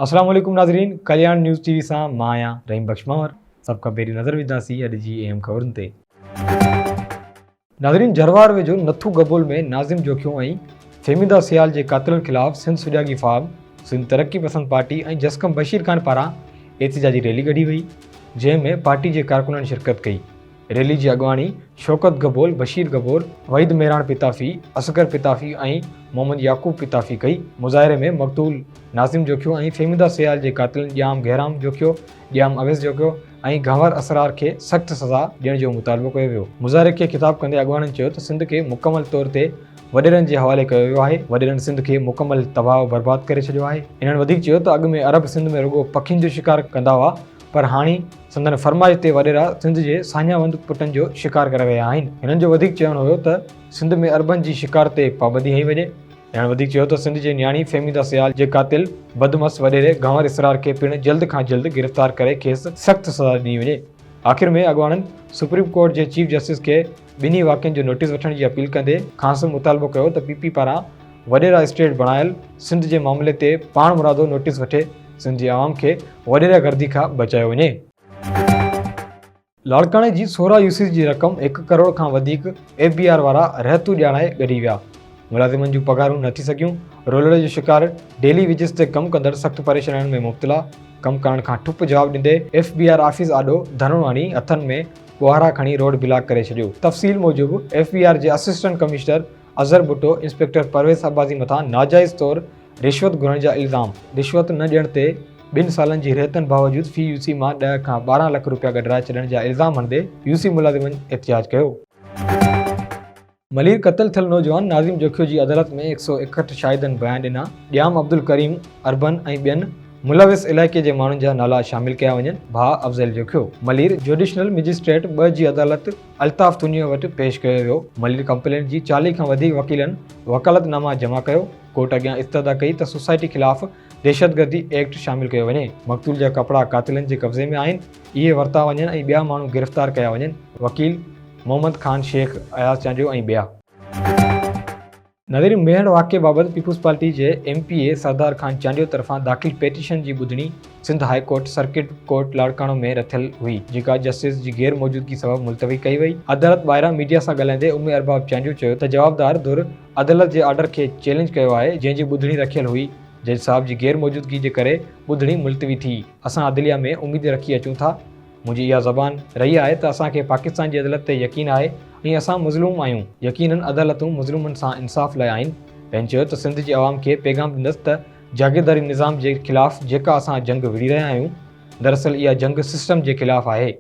السلام عليڪم ناظرين ڪلياڻ نيوز ٽي وي سان مان آهيان رحيم بخش ماور سڀ کان پهرين نظر وجهنداسين اڄ جي اهم خبرن تي ناظرين جروار ويجهو نٿو گبول ۾ ناظم جوکيو ۽ فهميده سيال جي قاتلن خلاف سنڌ سجاڳي فارم سنڌ ترقي پسند پارٽي ۽ جسقم بشير خان پاران احتجاجي ريلي ڪڍي وئي جنهن ۾ پارٽي جي ڪارڪنن شرڪت ڪئي ريلي جي اڳواڻي شوڪت گبول، بشير گبول، وحيد ميراڻ پتافي، اصغر پتافي ۽ محمد يعقوب پتافي ڪئي. مظاهري ۾ مقتول ناظم جوکيو ۽ فهميده سيال جي قاتلن ڄام گهرام جوکيو، ڄام اويس جوکيو ۽ گهنور اسرار کي سخت سزا ڏيڻ جو مطالبو ڪيو ويو. مظاهري کي خطاب ڪندي اڳواڻن چيو ته سنڌ کي مڪمل طور تي وڏيرن جي حوالي ڪيو ويو آهي، وڏيرن سنڌ کي مڪمل تباهه و برباد ڪري ڇڏيو آهي. هنن وڌيڪ چيو ته اڳ ۾ عرب سنڌ ۾ رڳو پکين جو شڪار ڪندا هئا، پر هاڻي سندن فرمائش تي وڏيرا سنڌ جي ساڃاهوند پٽن جو شڪار ڪري رهيا آهن. هنن جو وڌيڪ چوڻ هيو ته سنڌ ۾ اربن جي شڪار تي پابندي هنئي وڃي. هنن وڌيڪ چيو ته سنڌ جي نياڻي فهميده سيال جي قاتل بدمعس وڏيري گهنور اسرار کي پڻ جلد کان جلد گرفتار ڪري کيس سخت سزا ڏني وڃي. آخر ۾ اڳواڻن سپريم ڪورٽ جي چيف جسٽس کي ٻنهي واقعن جو نوٽيس وٺڻ جي اپيل ڪندي کانئس مطالبو ڪيو ته پي پي پاران وڏيرا اسٽيٽ بڻايل سنڌ جي معاملي تي پاڻمرادو نوٽيس وٺي سنڌ جي عوام کي وڏيرا گردي کان بچايو وڃي. لاڙڪاڻي جي سورا يوسيز جي رقم هڪ ڪروڙ کان وڌيڪ ايف بي آر وارا رهتو ڄاڻائي ڳري ويا، ملازمن جون پگهارون نه ٿي سگهيون، رولڙ جو شڪار، ڊيلي ويجز تي ڪم ڪندڙ سخت پريشانين ۾ مبتلا، ڪم ڪرڻ کان ٺپ جواب ڏيندي ايف بي آر آفيس آڏو ڌرڻو هڻي هٿن ۾ ٻوهارا کڻي روڊ بلاڪ ڪري ڇڏيو. تفصيل موجب ايف بي آر جي assistant commissioner Azhar Bhutto inspector Parvez Abbasi مٿان ناجائز طور رشوت گهرڻ جا الزام، رشوت نه ڏيڻ تي ٻن سالن جي رهيتن باوجود في يو سي مان ڏهه کان ٻارهن لک روپيا گڏرائي ڇڏڻ جا الزام هڻندي يو سي ملازمن احتجاج ڪيو. ملير قتل ٿيل نوجوان ناظم جوکيو جي عدالت ۾ هڪ سؤ ايڪهٺ شاهدن بيان ڏنا، ڄام عبدالڪريم، اربن ۽ ٻين ملوث علائقي جي ماڻهن جا نالا شامل ڪيا وڃن، ڀاء افضل جوکيو ملير جوڊيشنل مئجسٽريٽ ٻه جي عدالت الطاف تونيو وٽ پيش ڪيو ويو، ملير ڪمپلينٽ جي چاليهه کان وڌيڪ وڪيلن وڪالت ناما جمع ڪيو، ڪورٽ اڳيان استدعا ڪئي ته سوسائٽي خلاف دهشتگردي ايڪٽ شامل ڪيو وڃي، مقتول جا ڪپڙا قاتلن جي قبضي ۾ آهن، اهي ورتا وڃن ۽ ٻيا ماڻهو گرفتار ڪيا وڃن، وڪيل. محمد خان شيخ، اياز چانڊيو ۽ ٻيا. نظري ميهڙ واقعي بابت پيپلز پارٽي جي M P A Sardar Khan Chandio طرفان داخل پيٽيشن جي ٻڌڻي Sindh high court circuit court Larkana ۾ رٿيل هئي جيڪا جسٽس جي غير موجودگي سبب ملتوي ڪئي وئي. عدالت ٻاهران ميڊيا سان ڳالهائيندي امي ارباب چانڊيو چيو ته جوابدار ڌر عدالت جي آرڊر کي چئلينج ڪيو آهي جنهن جي ٻڌڻي رکيل هئي جج صاحب جي غير موجودگي جي ڪري ٻڌڻي ملتوي ٿي اسان عدليه ۾ اميد رکي اچون ٿا منهنجي اها زبان رهي آهي ته اسان کي پاڪستان جي عدلت تي يقين آهي ۽ اسان مظلوم آهيون، يقينن عدالتون مظلومن سان انصاف لاء آهن، بينچ چيو ته سنڌ جي عوام کي پيغام ڏيندس ته جاگيرداري نظام جي خلاف جيڪا اسان جنگ وڙهي رهيا آهيون دراصل اها جنگ سسٽم جي خلاف آهي.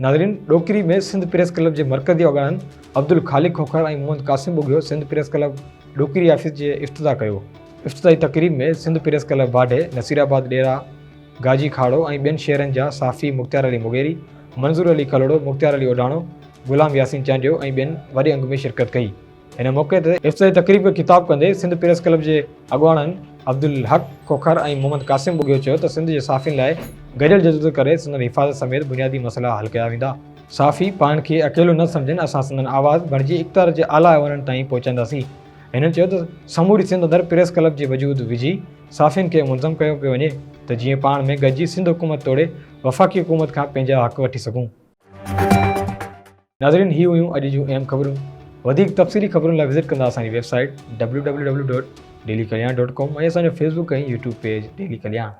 ناظرين ڏوڪري ۾ سنڌ پريس ڪلب جي مرڪزي اڳواڻن Abdul Khaliq Khokhar ۽ Muhammad Qasim Bughio Sindh press club Dokri office جي افتتاح ڪيو افتتاحي تقريب ۾ سنڌ پريس ڪلب واڍي نصير آباد ڏيرا گاجي کاڙو ۽ ٻين شهرن جا صحافي مختيار علي مغيري منظور علي کلهوڙو مختيار علي اوڍاڻو غلام ياسين چانڊيو ۽ ٻين وڏي انگ ۾ شرڪت ڪئي هن موقعي تي افتتاحي تقريب کي خطاب ڪندي سنڌ پريس ڪلب جي اڳواڻن عبدالحق کوکر ۽ محمد قاسم ٻگهيو چيو ته سنڌ جي صحافين لاء گڏيل جدوجھد ڪري سندن حفاظت سميت بنيادي مسئلا حل ڪيا ويندا، صحافي پاڻ کي اڪيلو نه سمجهن، اسان سندن آواز بڻجي اقتدار جي اعليٰ ايوانن تائين پهچائينداسين. هنن چيو ته سموري سنڌ اندر پريس ڪلب جي وجود وجهي صحافين کي منظم ڪيو پيو وڃي ته جيئن پاڻ ۾ گڏجي سنڌ حڪومت توڙي وفاقي حڪومت کان پنهنجا حق وٺي سگهون. ناظرين هي هيون اڄ جون اهم خبرون وڌيڪ تفصيلي خبرن لاء وزٽ ڪندا اسان جي website W W W dot daily Kalyan dot com ۽ اسان جو Facebook ۽ YouTube page daily Kalyan